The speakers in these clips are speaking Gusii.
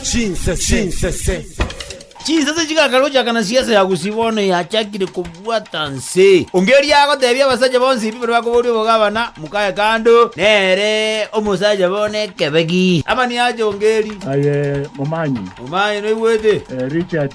Chinsese. Chinsese chigakarocha kana siasa ya Gusii bono yachakire kobwata nse. Onge erio agotebia abasacha bonsi ebi baria bakoboria obogabana, Mokae kando, nere omosacha bo nekebegi. Amani ache onge eri. Aye momanyi. Momanyi noigwete. Richard.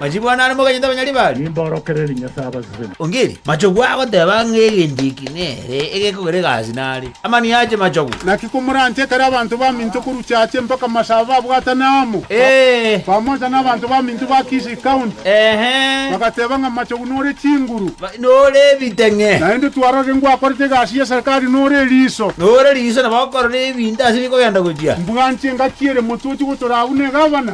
Machiko ane are moganyete abanyaribari. Nimboorokererie Nyasae abaseseni. Ongeri. Machogu agoteba ng'a egento eki nere egekogera egasi nare. Amanio ache machogu. Naki komoranche ekero abanto baminto korwa chiache mpaka masaaba babwatane amo, bamocha n'abanto baminto ba Kisii County, bagateba ng'a Machogu nore chinguru, nore ebiteng'e, naende twarorire ngwakorete egasi y'eserikari nore eriiso, nore eriiso, nabo okorora ebinto ase bikogenda gochia, mbwanchie engaki ere motwe ochie gotoraa buna egavana.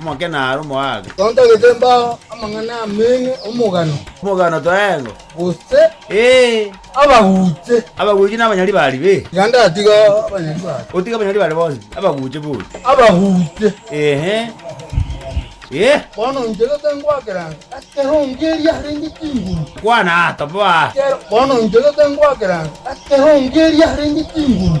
Omoke naro omogaaka. Tontagete mbao amang'ana amenge omogano. Omogano toengo. Gose. Ee. Abaguche. Abaguche nabanyari bari be. Iga ndatiga abanyari bari. Otige abanyari bari bonsi. Abaguche bori. Abaguche. Ehe. Ee. Bono inchegete ngoakera ase ekerongo eria harenge chinguru. Kwana aa, toboa aa. Bono inchegete ngoakera ase ekerongo eria harenge chinguru.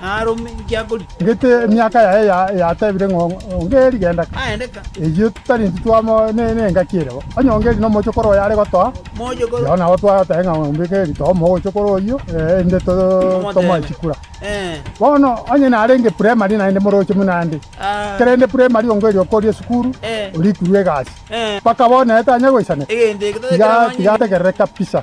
aarome inki akorika. Gete emiaka yaye yatebire ng'a onge eri genda ka, eyio tari intwe twamo n'engaki ere bo, onye onge eri nomochokoro oye are gotoa, igo nabo twagoteba ng'a ombeke eritogo omochokoro oyio, erinde tomoe chikura. Bono onye narenge primary naende moroche buna ande, ekero aende primary onge eri okoria esukuru, orikurwa egasi, mpaka bono naye tanya goisanera, tiga ategerere kabisa.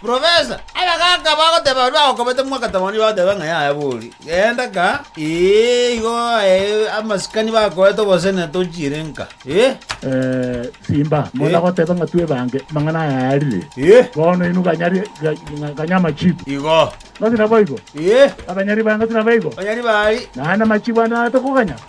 Profesa, abagaaka bagoteeba baria bagokobete mwaka tamani bagoteeba ng'a yaya bori, genda ka, ee, igo ee, amasikani bakoete obosene tochiire nka, ee. Simba, monda goteeba ng'a twebange amang'ana aya arire, bono inwe banyari ganya amachiiko. Igo. Nonsi naboigo? Ee. Abanyari bange nonsi nabaigo? Abanyari baari. Naende amachiiko ande natokoganya?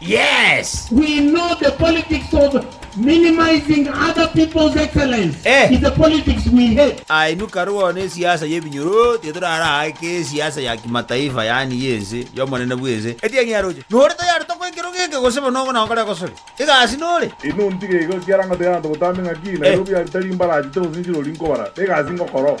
Yes! We know the politics of minimizing other people's excellence Eh! is a politics we hate. Ainuka rwao ne siasa ye binyoro tiga toraraake esiasa ya kimataifa yaani ye ense y'omonene bw'ense etienyi yaroche. Nore tayari tokoa ekero geke gose bono ogo nagokora egosori? Egasi nore? Inwe ontige iga ekiagera ngoteera abanto botambe ng'aki Eh! Nairobi aria tari mbaraachete gose nchirori nkobara. Egasi ngokora oo.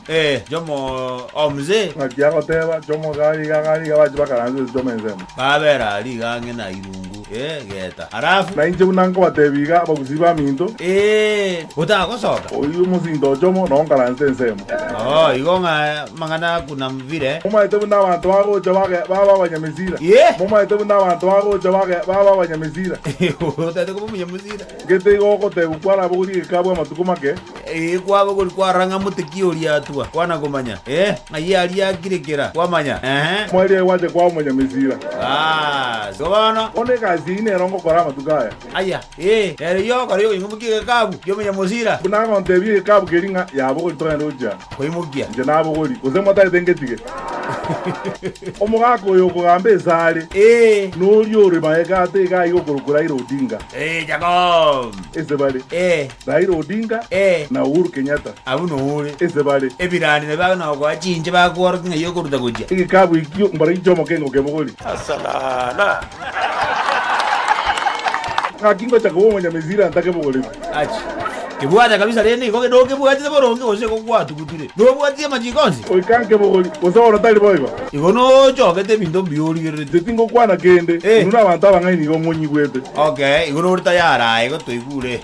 Ee, Jomo o Mzee. Ng'aki agoteba, Jomo gari iga, gari iga, bache bakaransereria Jomo ensemo. Babera aria iga ang'e na irungu, ee, geta. Alafu. Na inche buna nkobatebi iga, abagusii baminto. Ee, botagosoka. Oyio mosinto o Jomo, nao nkaranse ensemo. Oo, igo ng'a amang'ana a Kunam Vile. Momaete buna abanto bagocha bage, babe abanyamesira. Ee. Momaete buna abanto bagocha bage, babe abanyamesira. Otaete koba omonyamesira. Gete igo ogotegwa kwarabogorie gekaabwo amatuko make. Ee, kwaba gori kwarora ng'a mote ki oria atwa, kwana komanya, ee, ng'ai aria akire kera, kwamanya, ee. Mwaria aye gwacha kwao Monyamesira. Aa, igo bono. Bono egasi eyio nero ngokora amatuko aya. Aya, ee, nero eyio ogokora y'okoimokia egekabu ki'Omonyamesira. Buna agontebia egekabu keria ng'a, Yabogori togende gochia. Koimokia. Inche nabogori, gose motagete ngetige. Omogaka oyo okogamba ase are. Ee. Noria ore magega ate iga aiga okorokwa Raila Odinga. Ee, Jacob. Ase bare. Ee. Raila Odinga Ee. na Uhuru Kenyatta Abwo noore. inse bare. Ebirande nabio age nogoa chinche bakworokia ng'a iyo okoruta gochia. Egekabu ekio mbaragia chi'omokengo kebogori. Gaki ngocha koba Omonyamisiri antake ebogori ime. Achi. Kebwate kabisa rende igo nokebwatire boronge gose igo gwatugutire. Nobwatire amachiko onsi? Goika nka ebogori gose oro tari boigo? Igo nochogete ebinto mbuya origerereti. Inche tingokwana kende. Ee. Inwe nabanto abang'ai nigo ng'onyigwete. Okay, igo nore tayari aye gotoigure.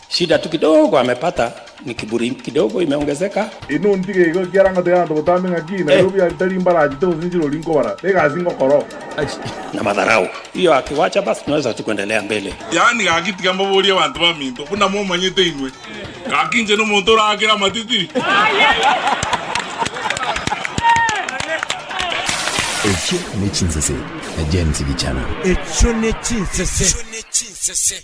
Shida tu kidogo amepata ni kiburi kidogo imeongezeka. Inwe ontige igo ekiagera ngotiga abanto botambe ng'aki, Nairobi aa tari mbara achete gose nchiro oria nkobara. Egasi ngokora oo. Na madharau. Hiyo akiwacha basi tunaweza tu kuendelea mbele. Yaani gaki tiga mbaborie abanto baminto buna momanyete inwe. Gaki inche nomonto oraakera amatiti. Echio ne chinsese, James Gichana. Echio ne chinsese.